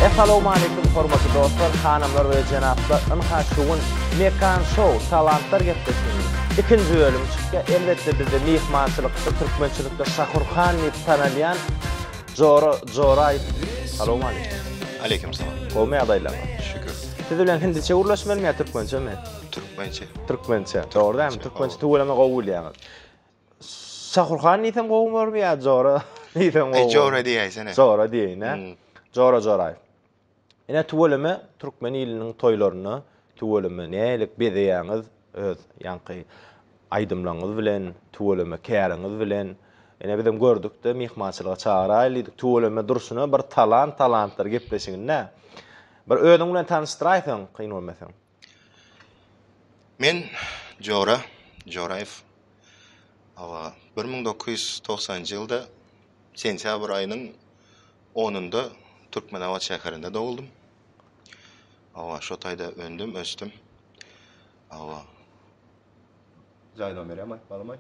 Essalowmaleýkum hormatly dostlar, hanymlar we jenaplar ynha şu gün Mekan Show talantlar gepleşiginiň ikinji bölümi çykýar, elbetde bizde myhmançylykda türkmençilikde Şakur Han diýip tanalýan, Jora Joraýew. Salowmaleýkim. Aleýkim salam. Gowmy ýagdaýlaryň? Şükür. Siz bilen hindiçe gürleşmelimi ýa türkmençemi? Türkmençe. Türkmençe. Dogry dälmi? Türkmençe tüweleme gowy bilýäňiz. Şahurhan diýsem gowy bolarmy ýa Jora diýsem gowy bolarmy? Jora diýäýsene. Jora diýeýin-ä. Jora Joraýew. Ine tüweleme türkmen iliniň toýlaryna tüweleme nälik bezeýäňiz öz ýaňky aýdymlaňyz bilen tüweleme käriňiz bilen ine bizem gördükde myhmançylyga çagyrayly diýdik tüweleme durşuna bir talant talantlar gepleşiginde bir özüň bilen tanyşdyraýsaň kyn bolmasa. Men Jora Joraýew. Hawa, bir müň dokuz ýüz togsanynjy ýylda sentýabr aýynyň onunda Türkmenabat şäherinde doguldym. Hawa, şo taýda öndüm, ösdüm. Hawa. Jaý nomeri hem aýyp bolamaý.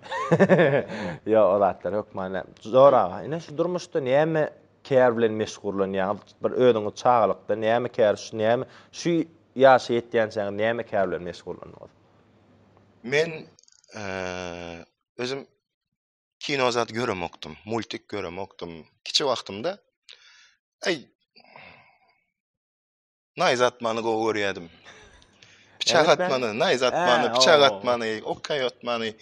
Ýok, o zatlar hökman. Jora aga, ine şu durmuşda näme Kär bilen meşgurlanýaňyz, bir özüňiz çagalykda näme kär, şu näme, şu ýaşa ýetýänçäňiz näme kär bilen meşgurlandyňyz? Men özüm kino zat göremokdym, multik göremokdym. Kiçi wagtymda, eý, Naýz atmany gowy görýärdim. Piçak atmany, naýz atmany, piçak atmany, okay atmany.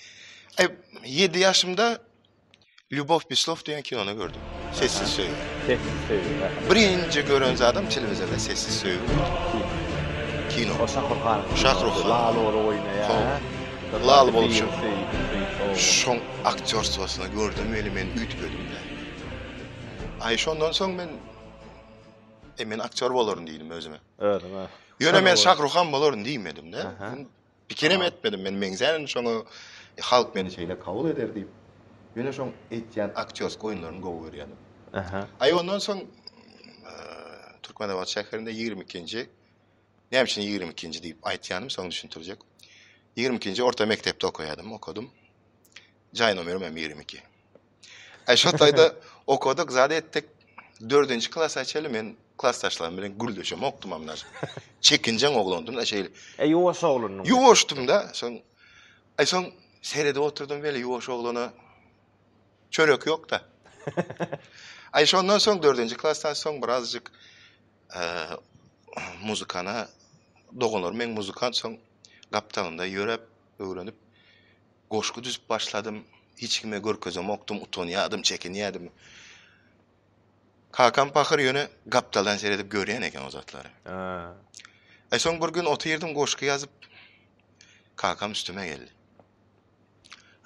Ay 7 ýaşymda Ljubow Pislow diýen kinony gördüm. Sessiz söýgi. Sessiz söýgi. Birinji gören zadym telewizorda sessiz söýgi. Kino. O Şahruhan. Şahruhan. Lal ola oýnaýar. Lal bolşu. Şoň aktýorstwasyny gördüm, eli men üýtgedim. Ay şondan soň men E men aktýor bolaryn diýdim özüme. Özüňe. Ýöne men Şahruhan bolaryn diýmedim-de. Pikirem etmedim men meňzärin şoňa halk meni şeýle kabul eder diýip. Ýöne şoň etýän aktýorsk oýunlaryny gowy görýädim. Aha. Aý ondan soň Türkmenabat şäherinde ýigrimi ikinji, näme üçin ýigrimi ikinji diýip aýtýanym soň düşündirjek. Ýigrimi ikinji orta mekdepde okaýadym, okadym. Jaý nomerim hem ýigrimi iki. Aý şo taýda okadyk zat etdik. Dördünji klasa çenli men klasdaşlarym bilen gürleşemokdymam daşy. Çekinjeň oglandym-da şeýle. E ýuwaş oglandyň. Ýuwaşdym-da. Soň aý soň seredip oturdym weli ýuwaş oglana çörek ýok-da. Aý şondan soň dördünji klasdan soň birazjyk muzykana doganlarym meň muzykant soň gapdalynda ýöräp öwrenip goşgy düzüp başladym hiç kime görkezemokdym utanýadym çekinýädim kakam pahyr ýöne gapdaldan seredip görýän eken o zatlary e soň bir gün otyrdym goşgy ýazyp kakam üstüme geldi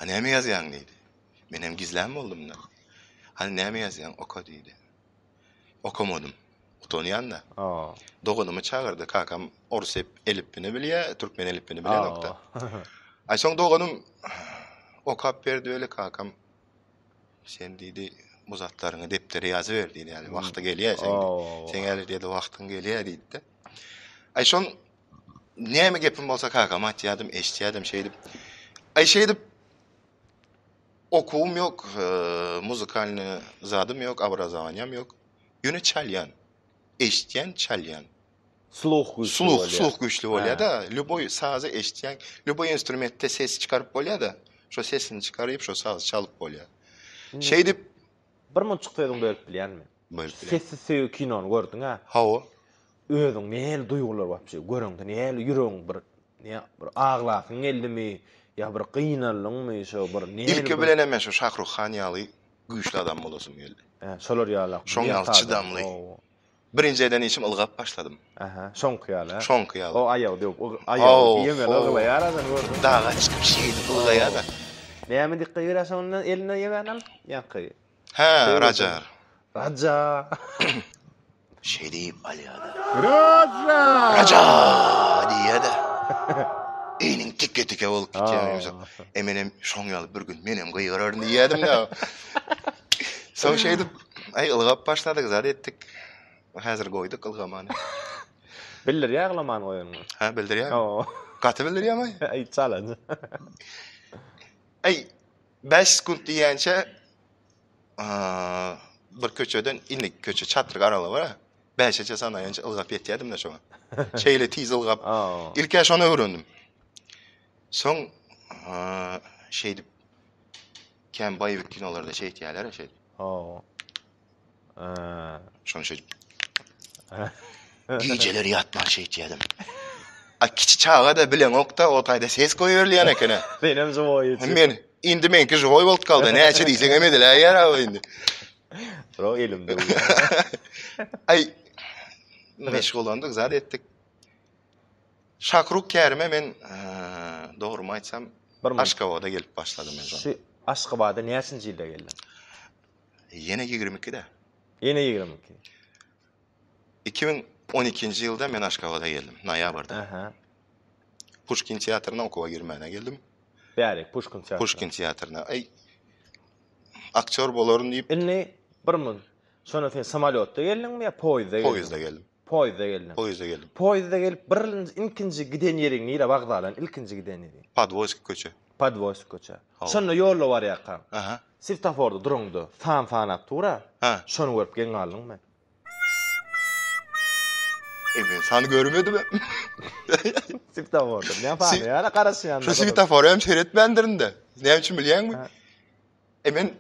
a näme ýazýaň diýdi menem gizlän boldumda hany näme ýazýaň oka diýdi. okamadym. Utanýan-da. Doganymy çagyrdy. Kakam orus elipbini bilýär, türkmen elipbini bilenok-da. Aý soň doganym okap berdi weli kakam sen diýdi, bu zatlaryňy depdere ýazyber diýdi. Ýagny wagty gelýär seň. Seň häli diýdi wagtyň gelýär diýdi-de. Aý şoň näme gepim bolsa kakama aýtýardym, eşitýärdim şeýdip. Aý şeýdip Okuwym ýok, muzykalnyý zadym ýok, obrazowanýam ýok. Ýöne çalýan. Eşitýän, çalýan. Sluh güýçli bolýar. Sluh, sluh güýçli bolýar-da. Lýuboý sazy eşitýän, lýuboý instrumentde ses çykaryp bolýar-da. Şo sesini çykaryp, şo sazy çalyp bolýar. Şeýdip. Birmunçuk sözüňi bölüp bilýänmi? Sessiz söýgi kinony gördüňä? Hawa. Özüň nähili duýgular wapşe göreňde nähili ýüregiň bir ne bir aglasyň geldimi ýa bir gynaldyňmy şo bir nähili Ilki bilenem men şo Şahruh han ýaly güýçli adam bolasym geldi. He şolar ýaly. Şoň ýaly çydamly. Birinji eden işim ylgap başladym. Aha şoňky ýaly he. Şoňky ýaly. O aýagy döwüp ygy aýagy ýemeli yglaýar adam gördüňmi? Daga çykyp şeýdip ylgaýada. Näme dikge görýär şonda elinden ýemän alyp ýaňky. Hä, Rajar. Raja. Şeý diýip alýar-da. Raja! Raja! diýýär-de. Egniň tike-tike bolup gitýär ýumşak. E menem şoň ýaly bir gün menem gygyraryn diýýärdim-de. Soň şeýdip, aý ylgap başladyk, zat etdik. Häzir goýduk ylgamany. Bildirýär ýaglaman goýanyny. Hä, bildirýär. Gaty bildirýär-aý. Aý, çalaja. Aý. Bäş sekunt diýýänçä bir köçeden indi köçe çatryk aralygy bar. Bäşeçe sanaýança ylgap ýetýärdim-de şoňa. Şeýle tiz ylgap. Ilk şony öwrendim. Soň şeýdip kän baýwik kinolarda şeýtýärler şeýdip. Şony şeýdip. Gijeler ýatman şeýtýädim. A kiçi çaga da bilen okda o taýda ses goýup berilýän ekene. Senem joýy. Men indi menki joýy bolup galdy. Näçe diýseň hem ediläýýär abi indi. Ro elimde. Ay meşgulandyk zat etdik. Şakruk kärime men dogry aýtsam Aşgabada gelip başladym men. Şu Aşgabada näçinji ýylda geldiň? Ýene ýigrimi ikide. Ýene ýigrimi iki. Iki müň on ikinji ýylda men Aşgabada geldim, noýabrda. Aha. Puşkin teatryna okuwa girmäne geldim. Bärik, Puşkin teatryna. Puşkin teatryna. Eý, aktýor bolaryn diýip. Indi bir mün. Şonda sen samolýotda geldiňmi ýa poýizde geldin? Poýizde geldim. Poýizde geldim. Poýizde geldim. Poýizde gelip birnji ilkinji giden ýeriň nire wagzalaň ilkinji giden ýeriň. Podwoýsk köçe. Podwoýsk köçe. Şonda ýolda barýarkaň. Aha. Siftaforda duranda san sanap tura. Ha. Şony görüp geň galdym men. E men sany görmedim. Siftaforda. Näme sany ýa garaşýan. Şu siftafory hem seretmändirin de. Näme üçin bilýäňmi? E men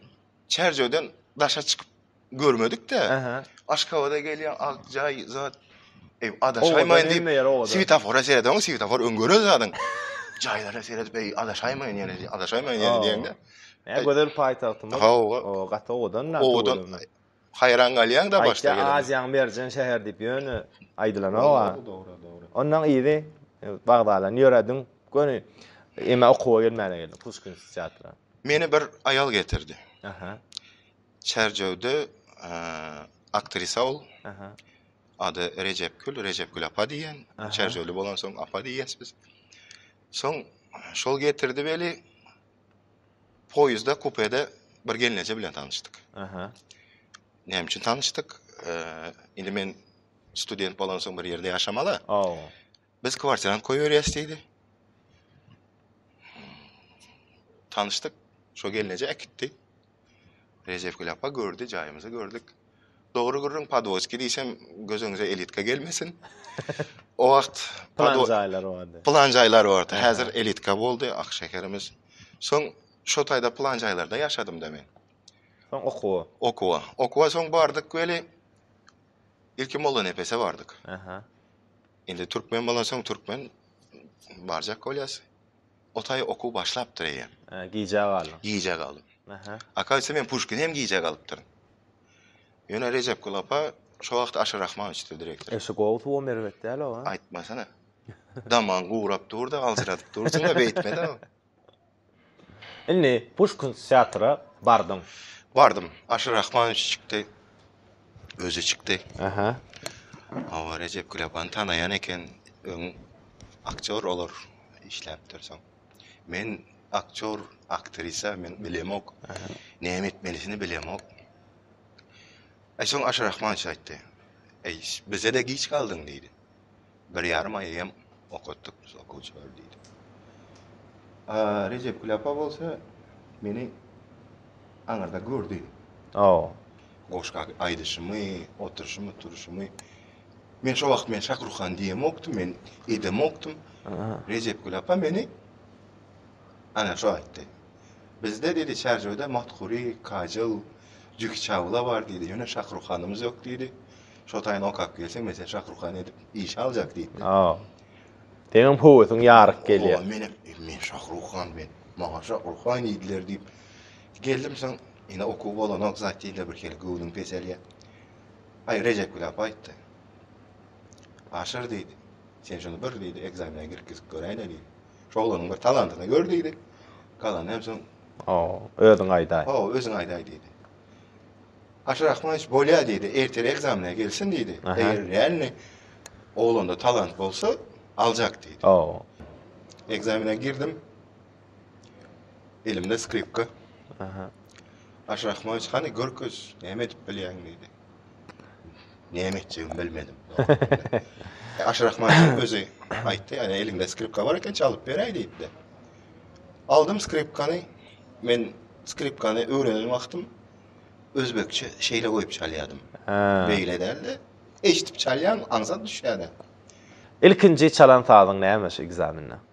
Çärjewden daşa çykyp görmedik-de. Aha. Aşgabada gelýän ak jaý zat. Eý, adaşaýmaýyn diýip, swetofora seredeň, swetofor öň gören zadyň. Jaýlara seredip, eý, adaşaýmaýyn ýene, adaşaýmaýyn ýene diýende. Näme gözel paýtagtymyz. Hawa. O, gaty owadan. Owadan. Haýran galýaň-da başda gelende. Aýtýa Aziýaň merjen şäher diýip ýöne aýdylanok-a. Ondan yzy wagzalan ýöredim. Göni emma okuwa gelmäne geldim. Puşkinskiý teatra. Meni bir aýal getirdi. Aha. Çärjewde aktrisa ol. Aha. Ady Rejepgül, Rejepgül apa diýen. Çärjewli bolansoň apa diýýäs biz. Soň şol getirdi weli Poýuzda kupede bir gelneje bilen tanyşdyk. Aha. Näme üçin tanyşdyk? Indi men student bolansoň bir ýerde ýaşamaly. Aw. Biz kwartirany köýerýäs diýdi. Tanyşdyk. Şo gelneje äkitdi. Rejepgül apa gördi, jaýymyzy gördük. Dogry gürrüň Podwoski diýsem, gözüňize elitka gelmesin. O wagt Plan jaýlar bardy. Plan jaýlar bardy. Häzir elitka boldy ak şäherimiz. Soň şo taýda plan jaýlarda ýaşadym-da men. Soň okuwa. Okuwa. Okuwa soň bardyk weli ilki Mollanepese bardyk. Aha. Indi türkmen bolan soň türkmen barjak bolýas. O taý okuw başlapdyr eýýäm. Hä, gijä galdyň. Gijä galdym. Aha. Akaýsa men Puşkini hem gijä galypdyryn. Ýöne Rejepgül apa şo wagt Aşyr Rahmanowiçdir direktor. Eşi gowy suwam erbet däl owaý. Aýtmasana. Damagyň guwrap dur-da, aljyradyp dursuň-a, beýtme-de. Indi Puşkin teatra bardyň. Bardym. Aşyr Rahmanowiç çykdy. Özi çykdy. Aha. Hawa, Rejepgül apany tanaýan eken. Öň aktýor olar. işläp dursaň. Men aktýor, aktrisa men bilemok. Näme etmelisini bilemok. Eý, soň Aşyr Rahmanowiç aýtdy. Eý, bize-de giç galdyň diýdi. Bir ýarym aý hem okatdyk biz okuwçylary diýdi. A Rejep Küläpa bolsa meni aňyrda gördi. Goşgy aýdyşymy, oturyşymy, turuşymy. Men şo wagt men Şakrukhan diýemokdym, men edemokdym. Rejepgül apa meni ana şo aýtdy. Bizde diýdi Çärjewde Mathuri, Kajal, Juhi Çawla bar diýdi. Ýöne Şakrukhanymyz ýok diýdi. Şo taýyny okap gelseň men seni Şakrukhan edip işe aljak diýipdi. Hawa. Seňem höwesiň ýaryk gelýär. Hawa menem men Şakrukhan men. Maňa Şakrukhan diýdiler diýip geldim soň ine okuw bolanok zat diýdiler birhili göwnüň peselýär. Aý, Rejepgül apa aýtdy. Aşyr diýdi. Sen şuny bir diýdi, ekzamene girgizip göräýle diýdi. Şu oglanyň bir talantyny gör diýdi. Galany hem soň Hawa, özüň aýdaý. Hawa, özüň aýdaý diýdi. Aşyr Rahmanowiç bolýar diýdi, ertir ekzamene gelsin diýdi. Eger realny oglanda talant bolsa, aljak diýdi. Hawa. Ekzamene girdim. Elimde skripka. Aha. Aşrahmoviç hany görkeş, näme edip bilýäň diýdi. Näme etjegimi bilmedim. E, Aşrahmoviç özi aýtdy, ýa eliňde skripka bar eken, çalyp beräý diýdi. Aldym skripkany. Men skripkany öwrenen wagtym özbekçe şeýle goýup çalýardym. Ha. Beýle däldi. Eşidip çalýan aňsat düşýärdi. Ilkinji çalan sazyň näme şu ekzamende?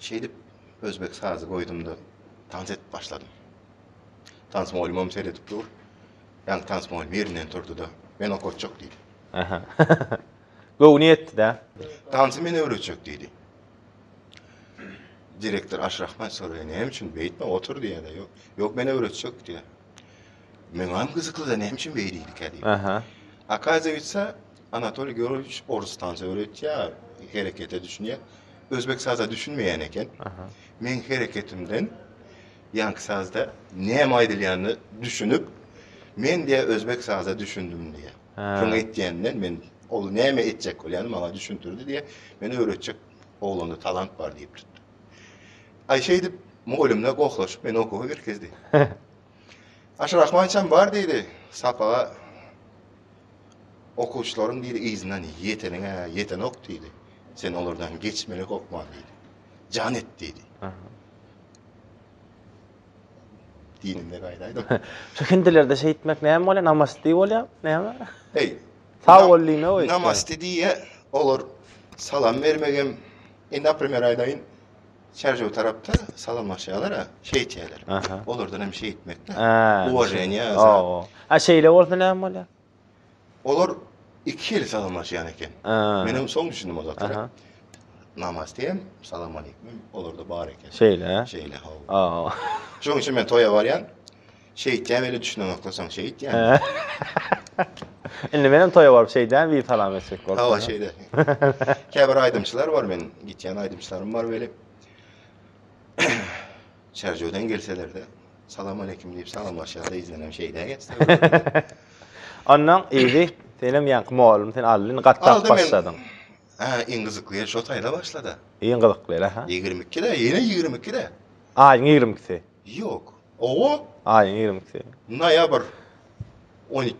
Şeýdip, özbek sazy goýdum-da, tans edip başladym. Tans mugallymam seredip dur. Ýaňky tans mugallym ýerinden turdy-da, Men okatjak diýdi. Aha. Göwni ýetdi-dä. Tansy men öwretjek diýdi. Direktor Aşrahman soraýar, Näme üçin beýtme, otur diýýär-de, Ýok, ýok, men öwretjek diýýär. Meňem gyzykly-da, näme üçin beýdildikä diýip. Aha. Akaziýetsa, Anatoliý Georgiýewiç orus tans öwretýär, herekete düşünýär. Özbek saza düşünmeýän eken. Meň hereketimden ýaňky sazda näme aýdylýanyny düşünip, men diýýär özbek saza düşündim diýýär. Şoňa etýänden men ol näme etjek bolýany maňa düşündirdi diýýär. Meni öwretjek oglanda talant bar diýip tutdy. Aý şeýdip mugallymlar gohlaşyp meni okuwa girkezdi. Aşyr Ahmadowiçem bar diýdi. Sapaga okuwçylaryň biri yzyndan ýeteniň-ä ýetenok diýdi. Sen olardan geçmeli hokman diýdi. Jan et diýdi. Dinimde gaýdaýda. Şu hindilerde şeýtmek näme bolýar? Namaste bolýar. Näme? Eý. Sag bol diýme we. Namaste diýýär. Olar salam bermegem. Indi, aprimer aýdaýyn. Çärjew tarapda salamlaşýalar-a, şeýtýäler. Olardan hem şeýtmekde. Uwaženiýa. A şeýle bolsa näme bolýar? Olar iki ýyl salamlaşýan eken. Men hem soň düşündim o zatlara. Namaz diýem, salam aleýkum, olarda bar eken. Şeýle. Şeýle, hawa. Şoň üçin men toýa barýan. Şeýtýä weli düşüneňoklysaň şeýtýä. Indi menem toýa baryp şeýdämi bir salam etjek bolsa. Hawa şeýde. Käbir aýdymçylar bar men gitýän aýdymçylarym bar weli. Çerjewden gelselerde salam aleýkum diýip salamlaşýar da ýüzüne şeýdä geçse. Ondan ýygy senem ýaňky mugallym sen aldyn gatda başladyň. Ha iň gyzykly şo taýda başlady. Iň gyzykly ha. 22-de ýene 22-de. Aýyň 22-si. Ýok. Owo. Aýyň ýigrimisi. Noýabr on ik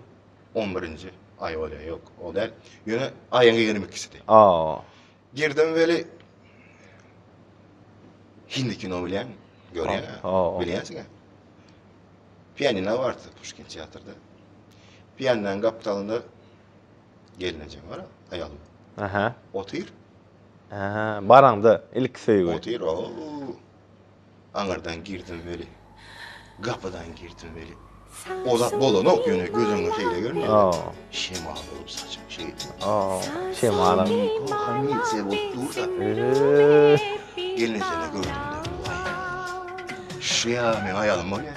on birinji aý bolýar. Ýok, o däl. Ýöne aýyň ýigrimi ikisidi. Aw. Girdim weli Hindi kino bilýäňmi? Görýän. Aw. Bilýänsiň-ä. Pianina bardy Puşkin teatrda. Pianinanyň gapdalynda gelnejem bar, aýalym. Aha. Otyr. Aha, baraňda ilki söýgi. Otyr, ow. Aňyrdan girdim weli, gapydan girdim weli. Ozak bolanok ýöne gözüňe şeýle görünýär. Şemal bolup saçym şeýle. Şemal. Komisiýa bolup dursa. Gelnesine gördüm. Şu ýa men aýalym bolýar.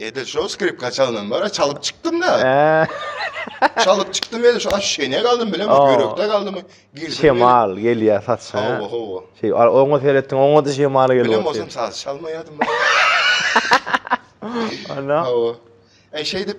Edil şo skripka çalnan bara çalyp çykdym da. çalyp çykdym edil şo aşşene galdym bilen o ýürekde galdym. Şemal gelýä saçsa. Hawa hawa. Şeý oňa seretdim oňa da şemal gelýä. Bilen bolsam saz çalmaýardym. Ana. Hawa. Eý şeýdip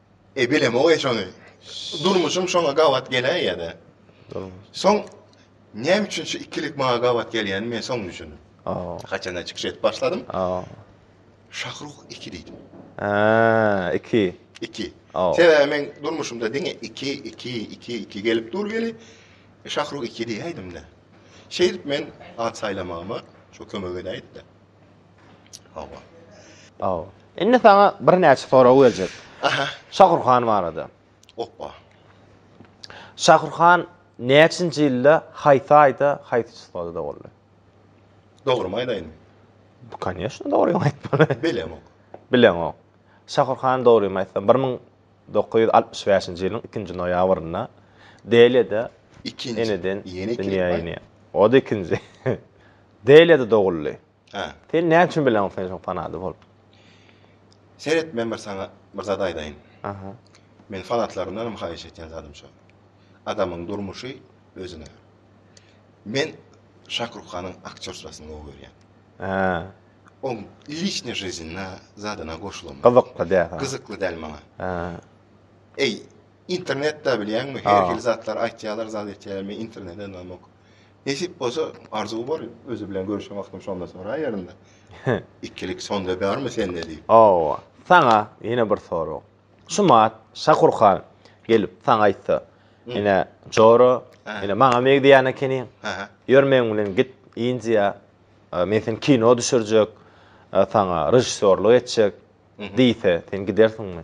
E bilemok-eý şony. Durmuşym şoňa gabat geläýýä-de. Soň näme üçin şu ikilik maňa gabat gelýänini men soň düşündim. Haçanda çykyş edip başladym. Şahruh iki diýdim. Hä, iki. Iki. Sebäbi men durmuşymda diňe iki, iki, iki, iki gelip dur weli, Şahruh iki diýäýdim-de. Şeýdip men at saýlamagyma şo kömek edäýdi-de. Hawa. Indi saňa birnäçe sorag berjek. Aha. Şahurhan barada. Opa. Şahurhan näçinji ýylda, haýsy aýda, haýsy çyslada doguldy? Dogrymy aýdaýynmy? Koneşno, dogryňy aýtmaly. Bilemok. Bileňok. Şahurhan dogrymy aýtsam, bir müň dokuz ýüz altmyş bäşinji ýylyň ikinji noýabrynda Deliýada Ikinji. eneden Ýene iki dünýä rep bar. inýär. O-da ikinji. Deliýada doguldy. Hä. Sen näme üçin bileňok sen şoň fanady bolup? Seret men bir saňa bir zat aýdaýyn. Aha. Men fanatlarymdanam haýyş etýän zadym şo. Adamyň durmuşy özüne. Men Şakrukhanyň aktýorstwasyny gowy görýän. Hä. Oň liçnyý žiznyna zadyna goşulamok. Gyzykly däl saňa. Gyzykly däl maňa. Hä. Eý, internetde bilýäňmi, her hili zatlar aýtýarlar, zat etýärler, men internetde ynamok. Nesip bolsa arzuw bar özi bilen görüşen wagtym şonda soraýarynda. Ikilik sonda barmy sende diýip. Hawa. Saňa ýene bir sorag. Şumat Şakurhan gelip saňa aýtsa, Ine Jora, ine maňa megdýän ekeniň. Ýör meň bilen git Indiýa. Men seni kino düşürjek. Saňa režissýorlyk etjek diýse, sen gidersiňmi?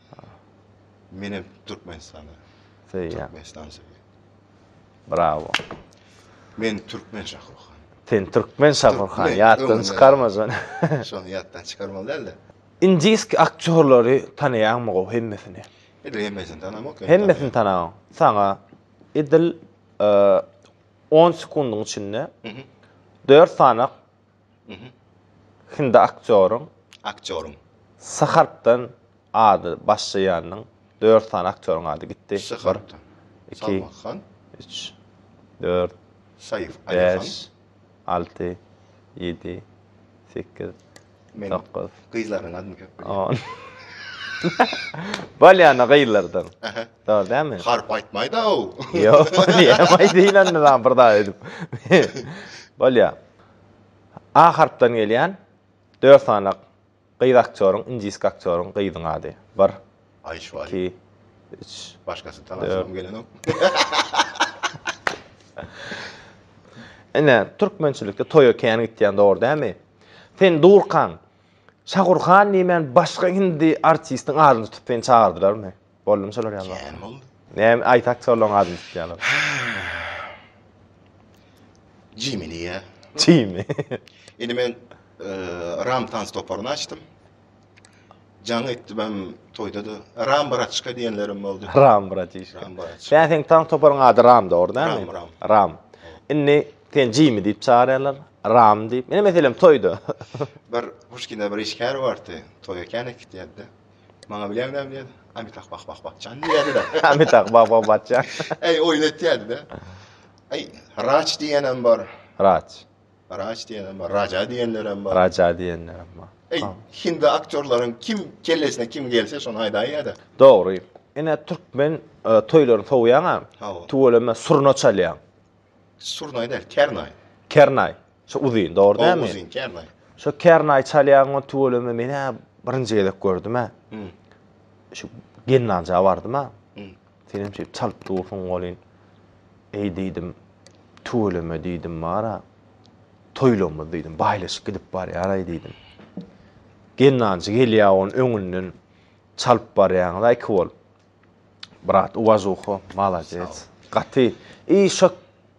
Menem Türkmenistana. Söýýän. Türkmenistan söýýän. Bravo. Men Türkmen Şahurhan. Sen Türkmen Şahurhan. Ýatdan çykarma şony. Şony ýatdan çykarmaly däldi. Indiski aktýorlary tanaýaňmy gowy hemmesini? Edil hemmesini tanamak. Hemmesini tanaň. Saňa edil on sekundyň içinde dört sany Hindi aktýoryň Aktýoryň. S harpdan ady başlaýanyň dört sany aktýoryň ady gitdi. S harpdan. Bir, iki, Salman Han. üç, dört, Saýyf Ali Han. bäş, alty, ýedi, sekiz, Men dokuz, gyzlarynyň adyny köp bilýän. on. Bolýana gyzlardan. Ähä. Dogry dälmi? Harp aýtmaýda-ow. Ýok, näme aýdaýyn onda dagy bir zat edip. Bolýa. A harpdan gelýän dört sany gyz aktýoryň, indiski aktýoryň gyzyň ady. Bir. Aýşwari. Iki. Üç. Başgasy talasymam gelenok. Ine, türkmençilikde toýa kän gitýän dogry dämi? Sen durkaň, Şagurhan diýmän başga hindi artistiň adyny tutup seni çagyrdylarmy? Boldumy şolar ýaly waka? Kän boldy. Näme aýtak şolaryň adyny tutýarlar. Jimmy diýýär. Jimmy. Indi men e, Ram tans toparyny açdym. Jaň etdim hem toýda da Ram Braçka diýenlerim boldy. Ram bratişka. Ram Braçka. Sen seň tan toparyň ady Ram dogry dämi? Ram, Ram. Ram. Indi sen Jimmy diýip çagyrýarlar. Ram diýip. Meni meselem toýda. Bir Puşkinde bir işgär bardy. Toýa kän gitýärdi. Maňa bilen näme diýýär? Amitah bak bak bakjan diýýärdi-de. Amitah bak bak bakjan. Eý, oýun etýärdi-de. Eý, Raç diýenem bar. Raç. Raç diýenem bar, Raja diýenlerem bar. Raja diýenlerem bar. Eý, hindi aktýorlaryň kim kellesine kim gelse şony aýdaýýa-da. Dogry. Ine türkmen toýlaryny sowýaňam, tüweleme surna çalýaň. Surnaý däl, kernaý. Kernaý. Şu uzyn, dogry dälmi? O uzyn, kernaý. Şu kernaý çalýan o tüweleme men hä birinji gezek gördüm hä. Şu gennanja bardym hä. Senem şeýdip çalyp dursuň welin. Eý diýdim, tüweleme diýdim bara. Toýlamyz diýdim, baýlaşyp gidip barýaraý diýdim. Gennanjy gelýär onuň öňünden çalyp barýaňyz-a iki bolup. Brat uwažuho malades gaty i şo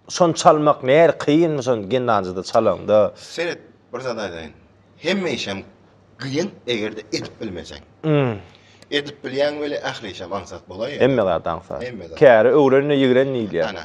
şony çalmak nähili kynmy şony gindanjyda çalaňda. Seret bir zat aýdaýyn hemme işem gyýyn egerde edip bilmeseň. Edip bilýäň weli ähli işem aňsat bolaýýar. Hemme zat aňsat. Hemme zat. Käri öwrenine ýigren diýilýär. Ana.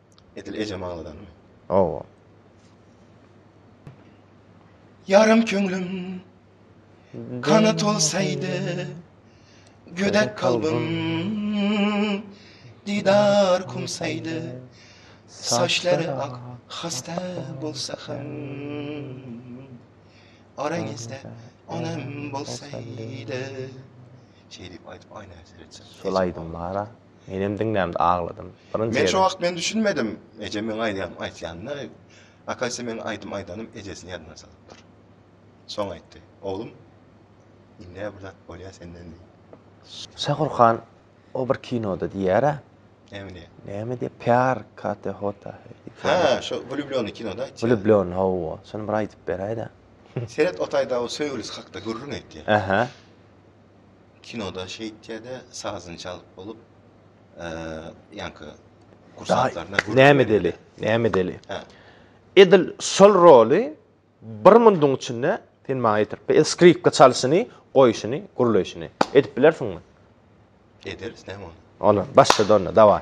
Edil ejem agladanmy? Hawa. Ýarym köňlüm kanat bolsaýdy, gödek kalbym didar kumsaýdy, saçlary ak hasta bolsa hem, araňyzda onam bolsaýdy. Şeýdip aýdyp aýna seretjek. Şol aýdym bara. Menem diňlämde agladym. Birinji Men şo wagt men düşünmedim. Ejem meň aýdýan aýtýanyny, akaýsa meň aýdym aýdanym ejesini ýadyna salypdyr. Soň aýtdy. Oglum, indi-ä bir zat bolýa senden diýip. Şakur han o bir kinoda diýýär-ä. Näme diýýär? Näme diýýär? Pýar kate hota he diýip. Hä, şo Wlýubljony kinoda aýtýar. Wlýubljony, hawa. Şony bir aýdyp beräý-dä. Seret o taýda o söýgülisi hakda gürrüň edýär. Ähä. kinoda şeýtýäde sazyny çalyp bolup ýaňky kursantlaryna näme deli näme deli edil şol roly bir munduň içinde sen maňa ýetirip edil skripka çalşyny goýşyny gürleýşini edip bilersiňmi ederis näme onda başlady onda daway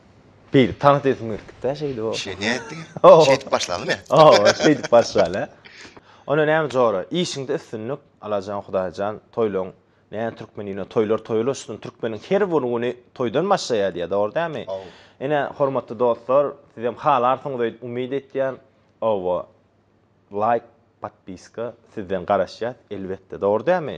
Beýle tans esim gelipdi-de şeýdip. O. Şeýle nätdiň? Şeýdip başlalymy? Hawa, şeýdip başlaly. Onda näme Jora, işiňde üstünlik, alajan Hudaýjan, toýlaryň Näme türkmen ýüne toýlar toýular üstün türkmeniň her bir güni toýdan başlaýar diýýär dogry dämi? Hawa. Ine hormatly dostlar sizem halarsyňyz öýdüp umyt etýän. Hawa. Laýk, podpiska sizden garaşýas elbetde dogry dämi?